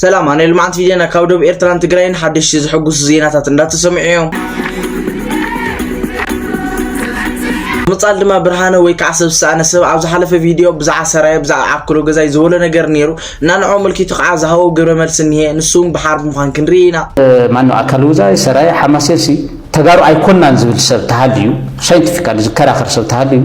ሰላም ኣነ ልምዓት ቪድዮና ካብ ዶብ ኤርትራን ትግራይን ሓደሽቲ ዝሕጉሱ ዜናታት እንዳተሰምዑ እዮም ምጻል ድማ ብርሃነ ወይ ከዓ ሰብ ዝሰኣነ ሰብ ኣብ ዝሓለፈ ቪድዮ ብዛዕባ ሰራየ ብዛዕባ ዓክሎ ገዛይ ዝበሎ ነገር ነይሩ እና ንዕኡ ምልኪቱ ከዓ ዝሃቦ ግብረ መልሲ እኒሀ ንሱ እውን ብሓርቢ ምዃን ክንርኢ ኢና ማነው ኣካል ውዛይ ሰራየ ሓማሴንሲ ተጋሩ ኣይኮናን ዝብል ሰብ ተሃልዩ ሳይንቲፊካሊ ዝከራኸር ሰብ ተሃልዩ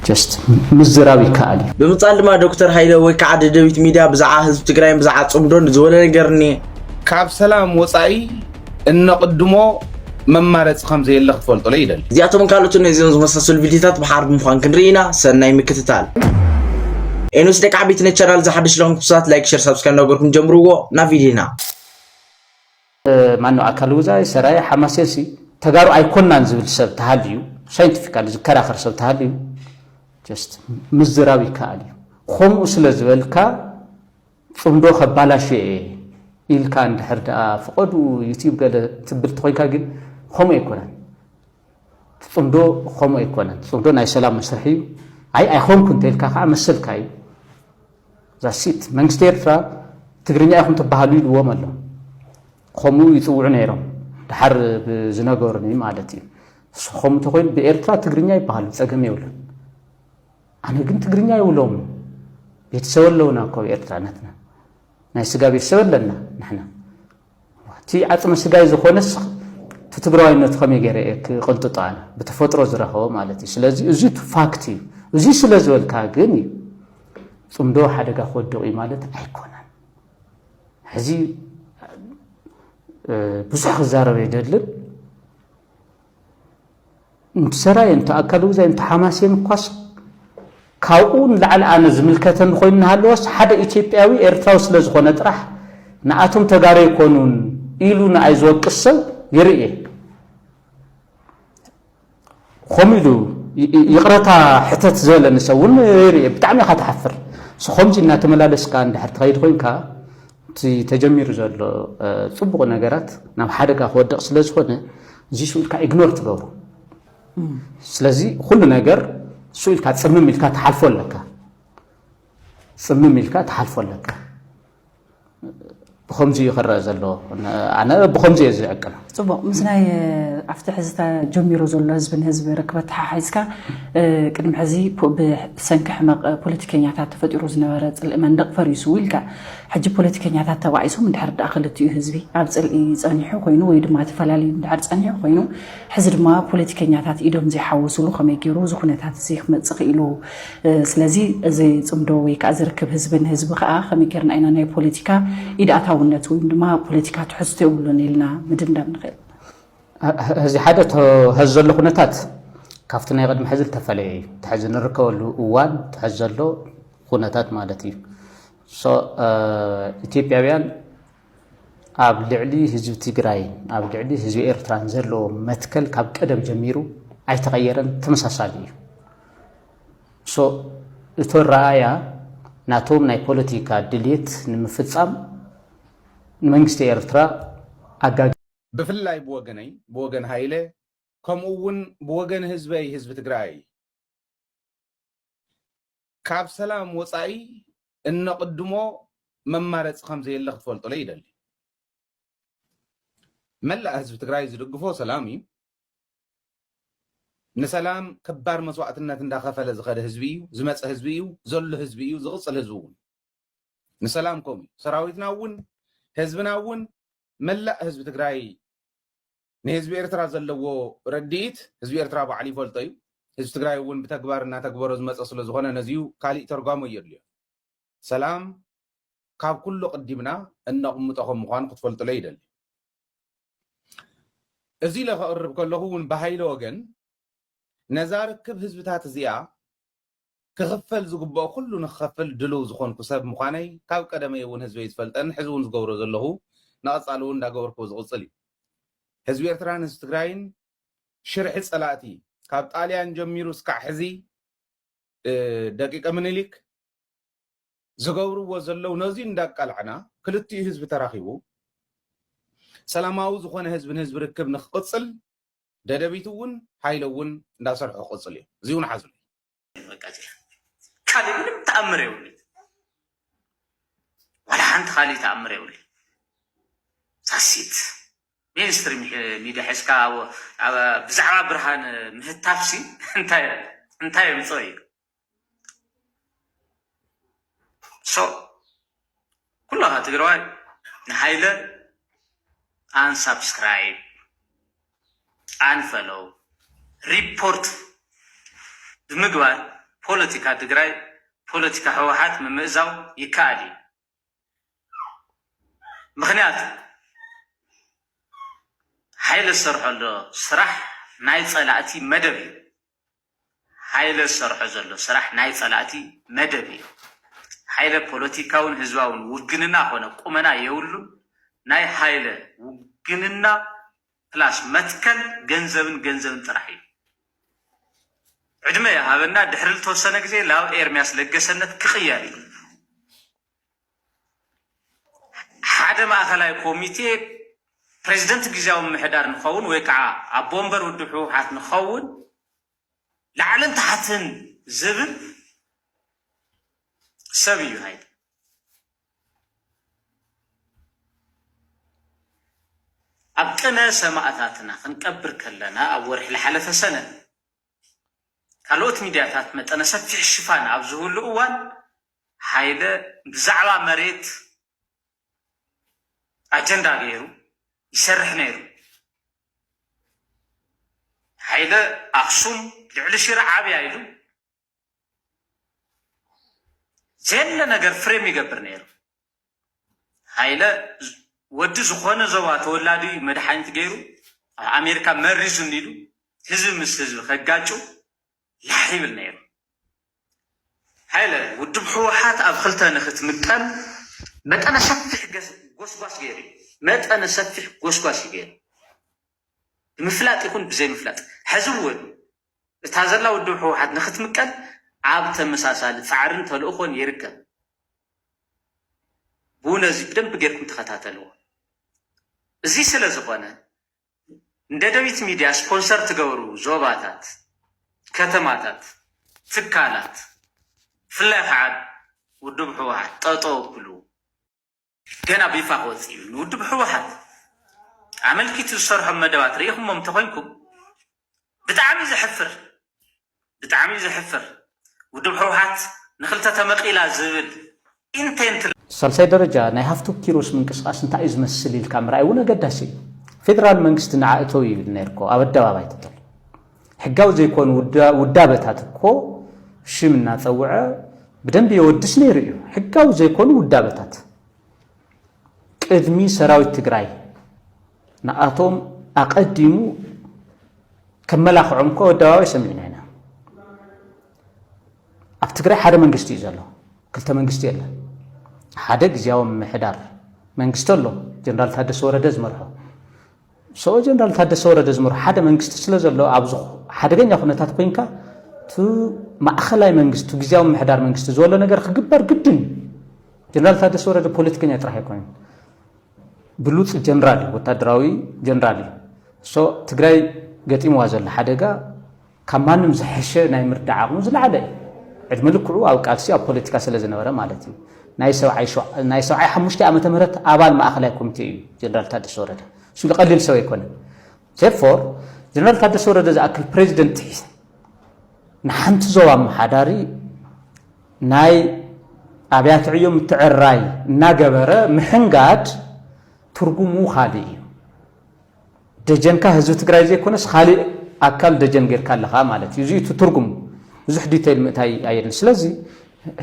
just ምዝራብ ይከኣል እዩ። ብምቅጻል ድማ ዶክተር ሃይለ ወይ ክዓ ደደቢት ሚድያ ብዝዓ ህዝቢ ትግራይን ብዝዓ ጽምዶን ዝበሎ ነገር እኒሄ። ካብ ሰላም ወፃኢ እነቕድሞ መማረፂ ከምዘየለ ክትፈልጡለይ ይደሊ። እዚኣቶምን ካልኦትን ነዚኦም ዝመሳሰሉ ቪድዮታት ብሓር ብምዃን ክንርኢ ኢና። ሰናይ ምክትታል። ኤኖስ ደቂ ዓበይቲ ነቲ ቻናል እዚ ሓድሽ ለኹም ክብሳት ላይክ ሸር ሳብስክራይብ እንዳገበርኩም ጀምርዎ ናብ ቪድዮና ማነው ኣካል ውዛይ ሰራየ ሓማሴንሲ ተጋሩ ኣይኮናን ዝብል ሰብ ተሃልዩ ሳይንቲፊካሊ ዝከራኸር ሰብ ተሃልዩ ጀስት ምዝራብ ይከኣል እዩ ከምኡ ስለ ዝበልካ ፅምዶ ከባላሽ እየ ኢልካ እንድሕር ደኣ ፍቐዱ ዩቲብ ገለ ትብል ተኮይንካ ግን ከምኡ ኣይኮነን እቲ ጽምዶ ከምኡ ኣይኮነን። እቲ ጽምዶ ናይ ሰላም መስርሕ እዩ። ኣይ ኣይኮንኩን እንተኢልካ ከዓ መሰልካ እዩ። ዛሲት መንግስቲ ኤርትራ ትግርኛ ኢኹም ትበሃሉ ኢልዎም ኣሎ። ከምኡ ይፅውዑ ነይሮም ድሓር ብዝነገሩኒ ማለት እዩ። ንስኹም እንተኮይኑ ብኤርትራ ትግርኛ ይበሃሉ ፀገም የብሉን። ኣነ ግን ትግርኛ ይብሎም ቤተሰብ ኣለውና እኮ ኤርትራነትና ናይ ስጋ ቤተሰብ ኣለና ንሕና እቲ ዓጽመ ስጋይ ዝኾነስ እቲ ትግራዋይነቱ ከመይ ገይረ እየ ክቕንጥጦ ኣነ ብተፈጥሮ ዝረኸቦ ማለት እዩ ስለዚ እዚ ፋክት እዩ እዚ ስለ ዝበልካ ግን እዩ ፅምዶ ሓደጋ ክወድቕ እዩ ማለት ኣይኮነን ሕዚ ብዙሕ ክዛረብ የደልን እንቲ ሰራየ እንቲ ኣካለጉዛይ እንቲ ሓማሴን እኳስ ካብኡ ንላዕሊ ኣነ ዝምልከተኒ ኮይኑ እናሃለወስ ሓደ ኢትዮጵያዊ ኤርትራዊ ስለ ዝኾነ ጥራሕ ንኣቶም ተጋሩ ኣይኮኑን ኢሉ ንኣይ ዝወቅስ ሰብ ይርኢ እየ ከምኡ ኢሉ ይቕረታ ሕተት ዝበለኒ ሰብ እውን ይርኢ እየ ብጣዕሚ ኢኻ ትሓፍር ከምዚ እናተመላለስካ እንድሕር ትኸይድ ኮይንካ እቲ ተጀሚሩ ዘሎ ፅቡቕ ነገራት ናብ ሓደጋ ክወድቕ ስለ ዝኾነ እዚሱ ኢልካ ኢግኖር ትገብሮ ስለዚ ኩሉ ነገር እሱ ኢልካ ፅምም ኢልካ ትሓልፎ ኣለካ ፅምም ኢልካ ትሓልፎ ኣለካ ብከምዚ እዩ ክረአ ዘለዎ ኣነ ብከምዚ እየ ዝዕቅን ጽቡቕ ምስ ናይ ኣብቲ ሕዚ ጀሚሮ ዘሎ ህዝቢ ንህዝቢ ርክብ ኣተሓሒዝካ ቅድሚ ሕዚ ብሰንኪ ሕመቕ ፖለቲከኛታት ተፈጢሩ ዝነበረ ጽልኢ መንደቕ ፈሪሱ ኢልካ ሕጂ ፖለቲከኛታት ተባኢሶም እንድሕር ደኣ ክልቲኡ ህዝቢ ኣብ ጽልኢ ጸኒሑ ኮይኑ ወይ ድማ ተፈላለዩ እንድሕር ጸኒሑ ኮይኑ ሕዚ ድማ ፖለቲከኛታት ኢዶም ዘይሓወስሉ ከመይ ገይሩ እዚ ኩነታት እዚ ክመጽእ ክኢሉ ስለዚ እዚ ፅምዶ ወይ ከዓ እዚ ርክብ ህዝቢ ንህዝቢ ከዓ ከመይ ጌርና ኢና ናይ ፖለቲካ ኢድ ኣታውነት ወይ ድማ ፖለቲካ ትሕዝቶ የብሉን ኢልና ምድምዳም ንኽእል? እዚ ሓደ እቶ ሐዚ ዘሎ ኩነታት ካብቲ ናይ ቅድሚ ሐዚ ዝተፈለየ እዩ። እቲ ሐዚ ንርከበሉ እዋን እቲ ሐዚ ዘሎ ኩነታት ማለት እዩ። ኢትዮጵያውያን ኣብ ልዕሊ ህዝቢ ትግራይን ኣብ ልዕሊ ህዝቢ ኤርትራን ዘለዎ መትከል ካብ ቀደም ጀሚሩ ኣይተቐየረን፣ ተመሳሳሊ እዩ። ሶ እቲ ኣረኣእያ ናቶም ናይ ፖለቲካ ድሌት ንምፍጻም ንመንግስቲ ኤርትራ ኣጋጊ ብፍላይ ብወገነይ ብወገን ሃይለ ከምኡ እውን ብወገን ህዝበይ ህዝቢ ትግራይ። ካብ ሰላም ወጻኢ እነቕድሞ መማረጺ ከምዘየለ ክትፈልጡለይ ይደሊ። መላእ ህዝቢ ትግራይ ዝድግፎ ሰላም እዩ። ንሰላም ከባድ መስዋእትነት እንዳኸፈለ ዝኸደ ህዝቢ እዩ፣ ዝመፀ ህዝቢ እዩ፣ ዘሎ ህዝቢ እዩ፣ ዝቕፅል ህዝቢ እውን ንሰላም ከምኡ እዩ። ሰራዊትና እውን ህዝብና እውን መላእ ህዝቢ ትግራይ ንህዝቢ ኤርትራ ዘለዎ ረዲኢት ህዝቢ ኤርትራ ባዕሉ ይፈልጦ እዩ። ህዝቢ ትግራይ እውን ብተግባር እናተግበሮ ዝመፀ ስለዝኾነ ነዚዩ ካሊእ ተርጓሚ ኣየድልዮን። ሰላም ካብ ኩሉ ኣቕዲምና እነቕምጦ ከም ምዃኑ ክትፈልጥለይ ይደሊ። እዚ ኢለ ከቕርብ ከለኹ እውን ብሃይለ ወገን ነዛ ርክብ ህዝብታት እዚኣ ክኽፈል ዝግበኦ ኩሉ ንክኸፍል ድሉው ዝኾንኩ ሰብ ምዃነይ ካብ ቀደመይ እውን ህዝበይ ዝፈልጠን ሕዚ እውን ዝገብሮ ዘለኹ ንቐፃሊ እውን እንዳገበርክዎ ዝቕፅል እዩ። ህዝቢ ኤርትራን ህዝቢ ትግራይን ሽርሒ ፀላእቲ ካብ ጣልያን ጀሚሩ እስካዕ ሕዚ ደቂቀ ምኒሊክ ዝገብርዎ ዘለው ነዙይ እንዳቃላዕና ክልቲኡ ህዝቢ ተራኺቡ ሰላማዊ ዝኾነ ህዝቢ ንህዝቢ ርክብ ንክቕፅል ደደቢት እውን ሃይለ እውን እንዳሰርሑ ክቅፅል እዩ እዚ እውን ሓዙለይ። ካሊእ ምንም ተኣምር የብሉይ ዋላ ሓንቲ ካሊእ ተኣምር የብሉይ ሳሲት ሚኒስትሪ ሚዲያ ሒዝካ ብዛዕባ ብርሃን ምህታፍሲ እንታይ እንታይ የምፅኦ እዩ ሶ ኩላኻ ትግራዋይ ንሓይለ ኣን ሳብስክራይብ ኣን ፈሎው ሪፖርት ብምግባር ፖለቲካ ትግራይ ፖለቲካ ህወሓት ምምእዛው ይከኣል እዩ። ምክንያቱ ሓይለ ዝሰርሖ ዘሎ ስራሕ ናይ ጸላእቲ መደብ እዩ። ሓይለ ዝሰርሖ ዘሎ ስራሕ ናይ ጸላእቲ መደብ እዩ። ሓይለ ፖለቲካውን ህዝባውን ውግንና ኮነ ቁመና የብሉን። ናይ ሃይለ ውግንና ፕላስ መትከል ገንዘብን ገንዘብን ጥራሕ እዩ። ዕድመ ይሃበና ድሕሪ ልተወሰነ ግዜ ላብ ኤርሚያስ ለገሰነት ክቅየር እዩ። ሓደ ማእኸላይ ኮሚቴ ፕሬዚደንት ግዜያዊ ምምሕዳር ንኸውን ወይ ከዓ ኣቦ ወንበር ውድብ ህወሓት ንኸውን ላዕልን ታሕትን ዝብል ሰብ እዩ ሃይለ። ኣብ ቅነ ሰማእታትና ክንቀብር ከለና ኣብ ወርሒ ዝሓለፈ ሰነ ካልኦት ሚድያታት መጠነ ሰፊሕ ሽፋን ኣብ ዝህሉ እዋን ሃይለ ብዛዕባ መሬት ኣጀንዳ ገይሩ ይሰርሕ ነይሩ። ሓይለ ኣክሱም ልዕሊ ሽረ ዓብያ ኢሉ ዘየለ ነገር ፍሬም ይገብር ነይሩ። ሃይለ ወዲ ዝኾነ ዞባ ተወላዲ መድሓኒት ገይሩ ኣብ ኣሜሪካ መሪዙ እንዲሉ ህዝቢ ምስ ህዝቢ ከጋጩ ላሕ ይብል ነይሩ። ሃይለ፣ ውድብ ህወሓት ኣብ ክልተ ንክትምቀል መጠነ ሰፊሕ ጎስጓስ ገይሩ እዩ። መጠነ ሰፊሕ ጎስጓስ እዩ ገይሩ፣ ብምፍላጥ ይኹን ብዘይምፍላጥ። ሕዚ እውን እታ ዘላ ውድብ ህወሓት ንክትምቀል ኣብ ተመሳሳሊ ፃዕርን ተልእኾን ይርከብ። ብውነ እዚ ብደንቢ ገይርኩም ተኸታተልዎ። እዚ ስለዝኾነ ንደደቢት ሚድያ ስፖንሰር ትገብሩ ዞባታት፣ ከተማታት፣ ትካላት ብፍላይ ኸዓ ውድብ ህወሓት ጠጠው ኣብሉ። ገና ብይፋ ክወፅእ እዩ። ንውድብ ህወሓት ኣመልኪቱ ዝሰርሖም መደባት ርኢኹሞም እንተኾይንኩም ብጣዕሚ እዩ ዘሕፍር ብጣዕሚ እዩ ዘሕፍር ውድብ ህውሓት ንክልተ ተመቂላ ዝብል ኢንቴንት። ሳልሳይ ደረጃ ናይ ሃፍቱ ኪሮስ ምንቅስቃስ እንታይ እዩ ዝመስል ኢልካ ምርኣይ እውን ኣገዳሲ እዩ። ፌደራል መንግስቲ ንዓ እተው ይብል ነይርኮ ኣብ ኣደባባይ ትተል ሕጋዊ ዘይኮኑ ውዳበታት እኮ ሽም እናፀውዐ ብደንቢ የወድስ ነይሩ እዩ ሕጋዊ ዘይኮኑ ውዳበታት ቅድሚ ሰራዊት ትግራይ ንኣቶም ኣቐዲሙ ከመላኽዖም እኮ ኣደባባይ ሰሚዕና ኢና። ኣብ ትግራይ ሓደ መንግስቲ እዩ ዘሎ፣ ክልተ መንግስቲ የለ። ሓደ ግዜያዊ ምምሕዳር መንግስቲ ኣሎ፣ ጀነራል ታደሰ ወረደ ዝመርሖ። ሰውእ ጀነራል ታደሰ ወረደ ዝመርሖ ሓደ መንግስቲ ስለ ዘሎ ኣብ ሓደገኛ ኩነታት ኮይንካ እቲ ማእኸላይ መንግስቲ ግዝያዊ ምምሕዳር መንግስቲ ዝበሎ ነገር ክግበር ግድን እዩ። ጀነራል ታደሰ ወረደ ፖለቲከኛ ጥራሕ ኣይኮነን፣ ብሉፅ ጀነራል እዩ፣ ወታደራዊ ጀነራል እዩ። እሶ ትግራይ ገጢምዋ ዘሎ ሓደጋ ካብ ማንም ዝሐሸ ናይ ምርዳእ ዓቕሙ ዝለዓለ እዩ። ዕድመ ልክዑ ኣብ ቃልሲ ኣብ ፖለቲካ ስለ ዝነበረ ማለት እዩ። ናይ ሰብዓይ ሓሙሽተ ዓመተ ምህረት ኣባል ማእኸላይ ኮሚቴ እዩ ጀነራል ታደሰ ወረደ። እሱ ቀሊል ሰብ ኣይኮነን። ዜርፎር ጀነራል ታደሰ ወረደ ዝኣክል ፕሬዚደንት ንሓንቲ ዞባ ኣመሓዳሪ ናይ ኣብያተ ዕዮ ምትዕርራይ እናገበረ ምሕንጋድ ትርጉሙ ካልእ እዩ። ደጀንካ ህዝቢ ትግራይ ዘይኮነስ ኻሊእ ኣካል ደጀን ጌርካ ኣለኻ ማለት እዩ። እዚ እቲ ትርጉሙ። ብዙሕ ዲቴይል ምእታይ ኣየድልን። ስለዚ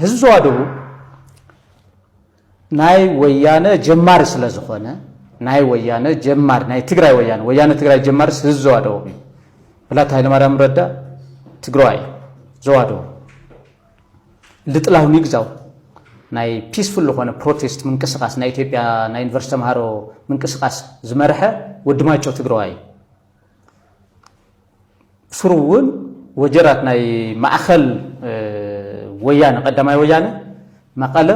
ህዝቢ ዞባ ደቡብ ናይ ወያነ ጀማሪ ስለ ዝኾነ ናይ ወያነ ጀማሪ ናይ ትግራይ ወያነ ወያነ ትግራይ ጀማሪ ህዝቢ ዞባ ደቡብ እዩ። ብላታ ሃይለማርያም ረዳ ትግራዋይ እዩ። ዞባ ደቡብ ልጥላው ሚግዛው ናይ ፒስፉል ልኾነ ፕሮቴስት ምንቅስቃስ ናይ ኢትዮጵያ ናይ ዩኒቨርስቲ ተምሃሮ ምንቅስቃስ ዝመርሐ ወዲ ማይጨው ትግረዋይ እዩ። ሱሩ እውን ወጀራት ናይ ማእኸል ወያነ ቀዳማይ ወያነ መቐለ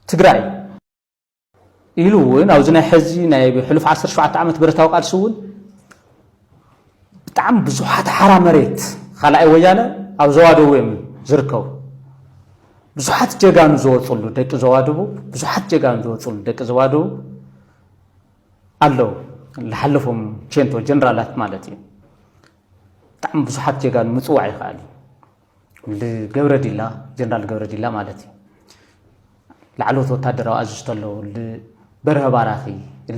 ትግራይ እዩ። ኢሉ እውን ኣብዚ ናይ ሕዚ ናይ ሕሉፍ 17 ዓመት ብረታዊ ቃልሲ እውን ብጣዕሚ ብዙሓት ሓራ መሬት ካልኣይ ወያነ ኣብ ዞባ ደቡብ እዮም ዝርከቡ ብዙሓት ጀጋኑ ዝወፅሉ ደቂ ዞባ ደቡብ ብዙሓት ጀጋኑ ዝወፅሉ ደቂ ዞባ ደቡብ ኣለዉ ዝሓለፎም ቼንቶ ጀነራላት ማለት እዩ ብጣዕሚ ብዙሓት ጀጋኑ ምፅዋዕ ይኽኣል እዩ ልገብረዲላ ጀነራል ገብረዲላ ማለት እዩ ላዕለዎት ወታደራዊ ኣዝዝቶ ኣለዉ ልበርሀ ባራኺ